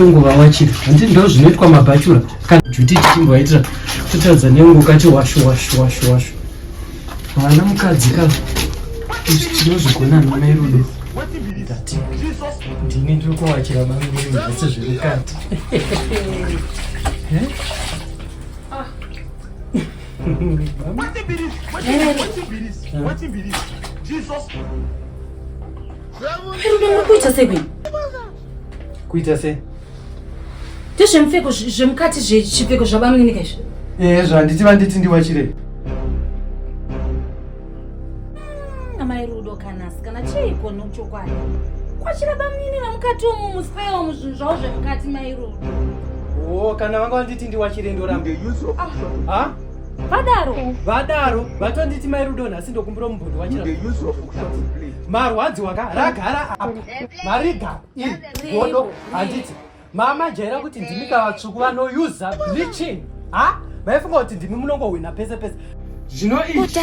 tonguva wachiri hanti ndo zvinoitwa mabhachura kana juti tichimboaitira totadza nengu kati washu washu washu washu vana mukadzi ka izvi tinozvigona namai rudo ndini ndiri kuwachira mangiri mhasi zviri kati Ah. What be this? What be this? What be this? Jesus. Kuita sei kwini? Kuita sei? Ndezvemupfeko zvemukati zvechipfeko zvabamuninikaizvi? Eh, zvanditi vanditi ndiwachirei. amai rudo kanasi kana chiiko nochokwadi kwachira bamnini vamukati umu muspewo muzvinhu zvavo zvemukati mai rudo o kana vanga vanditi ndiwachire ndoramba ah. vadaro vadaro vatonditi mai rudo nhasi ndokumbira mubhundi wachira marwadziwa ka ragara apa marigara i godo handiti mama jaira kuti ndimi ka vatsvuku vanouse bleaching ha vaifunga kuti ndimi munongohwina pese pese zvino izvi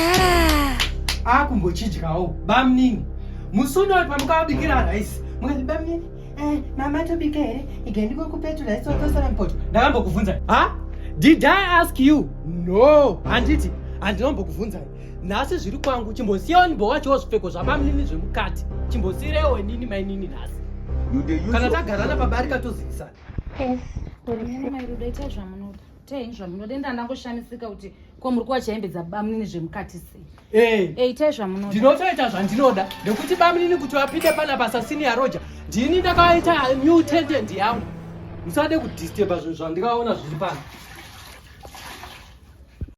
akumbochidyawo bamnini musi unoti pamukabikira raisi mukati bamnini eh, mama tobika here ige ndikokupetu raisi watosara mupoto ndakambokubvunza ha did i ask you no handiti handinombokubvunzai nhasi zviri kwangu chimbosiyawo nyimbo wachowo zvipfeko zvabamnini zvemukati chimbosirewo nini mainini nhasi kana tagarana pabarika tozivisana mairudo itai zvamunoda itai zvamunoda enda ndangoshamisika kuti ko muri kuwa chaimbe dzabamnini zvemukati sei eh. eh, itai zvamunoda ndinotoita zvandinoda nekuti bamnini kuti vapinde pana basa senior roja ndini ndakaita new tentent yangu musade kudisturba zvinhu zvandikaona zviri pano